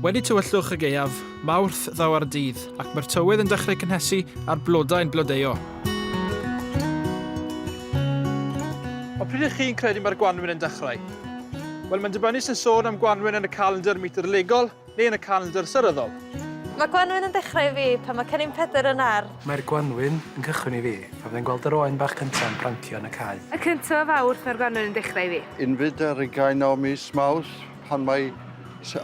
Wedi tywyllwch y gaeaf, Mawrth ddaw ar dydd, ac mae'r tywydd yn dechrau cynhesu a'r blodau'n blodeuo. Ond pryd ych chi'n credu mae'r gwanwyn yn dechrau? Wel, mae'n dibynnu sy'n sôn am gwanwyn yn y calendr meteorolegol, Neu yn y calendr seryddol. Mae gwanwyn yn dechrau i fi pan mae Cennin Pedr yn ardd. Mae'r gwanwyn yn cychwyn i fi pan fyddai'n gweld yr oen bach cynta yn prancio yn y cae. Y cyntaf o Fawrth mae'r gwanwyn yn dechrau i fi. Yn fyd ar ugain o mis Mawrth pan mae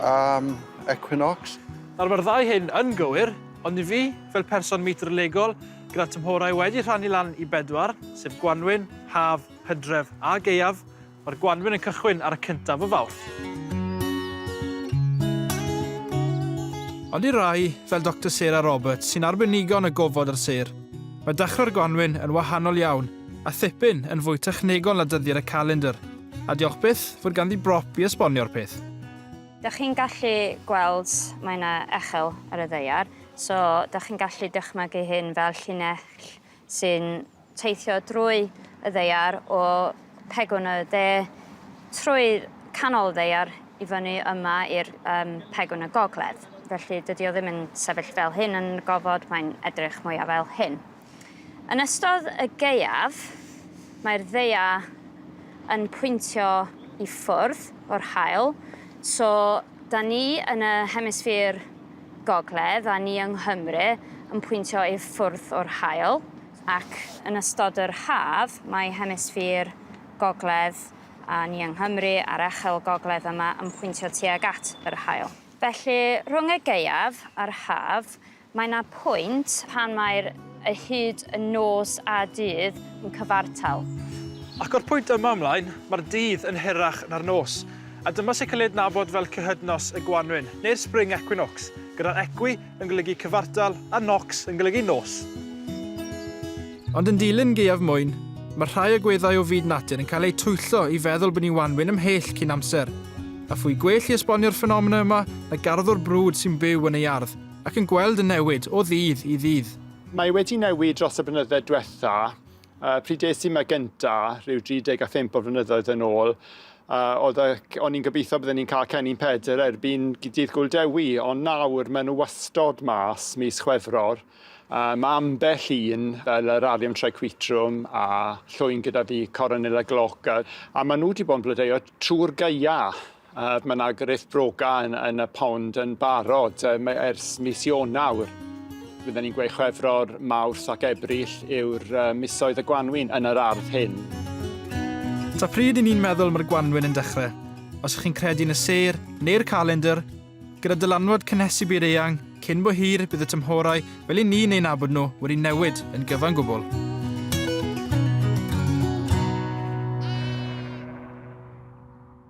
am equinox. Nawr mae'r ddau hyn yn gywir, ond i fi, fel person meitr-legol gyda tymhorau wedi rhannu lan i bedwar, sef gwanwyn, haf, hydref a gaeaf, Mae'r gwanwyn yn cychwyn ar y cyntaf o Fawrth. Ond i rai, fel Doctor Sarah Roberts, sy'n arbenigo yn y gofod a'r sêr, mae dechrau'r gwanwyn yn wahanol iawn, a thipyn yn fwy technegol na dyddiad y calendr, a diolch byth fod ganddi brop i esbonio'r peth. Dych chi'n gallu gweld mae 'na echel ar y ddaear, so dych chi'n gallu dychmygu hyn fel llinell sy'n teithio drwy y ddaear o pegwn y de trwy canol y ddaear i fyny yma i'r um, pegwn y gogledd. Felly dydy o ddim yn sefyll fel hyn yn y gofod, mae'n edrych mwyaf fel hyn. Yn ystod y geiaf, mae'r ddeia yn pwyntio i ffwrdd o'r hael, so da ni yn y hemisffîr Gogledd a ni yng Nghymru yn pwyntio i ffwrdd o'r haul, ac yn ystod yr haf mae hemisffîr Gogledd a ni yng Nghymru a'r Echel Gogledd yma yn pwyntio tuag at yr haul. Felly, rhwng y gaeaf a'r haf, mae 'na pwynt pan mae'r a hyd yn nos a dydd yn cyfartal. Ac o'r pwynt yma ymlaen, mae'r dydd yn hirach na'r nos, a dyma sy'n cael ei adnabod fel cyhydnos y gwanwyn, neu'r spring equinox, gyda'r equi yn golygu cyfartal a nox yn golygu nos. Ond yn dilyn gaeaf mwyn, mae rhai agweddau o fyd natur yn cael eu twyllo i feddwl bod ni'n wanwyn ymhell cyn amser, a phwy gwell i esbonio'r ffenomena yma na garddwr brwd sy'n byw yn ei ardd, Ac yn gweld y newid o ddydd i ddydd. Mae wedi newid dros y blynydde dwetha. Uh, pryd es i ma gynta, rhyw 35 o flynyddoedd yn ôl, uh, oedd y, o'n i'n gobeithio byddwn ni'n cael cennin pedr erbyn dydd Gwl Dewi, ond nawr maen nhw wastod mas mis Chwefror. Uh, mae ambell un, fel yr Arium Triquitrum a llwyn gyda fi, Coronilla Glauca, a maen nhw wedi bod yn blodeuo trwy'r gaea. Ac mae yna grith broga yn, yn y pond yn barod um, ers mis Ionawr. Byddwn ni'n gweud chwefror, mawrth ac ebrill yw'r uh, misoedd y gwanwyn yn yr ardd hyn. Ta pryd i ni'n meddwl mae'r gwanwyn yn dechrau, os chi'n credu yn y ser neu'r calendr, gyda dylanwad cynhesu byd eang, cyn bo hir bydd y tymhorau fel i ni'n ein abod nhw wedi newid yn gyfan gwbl.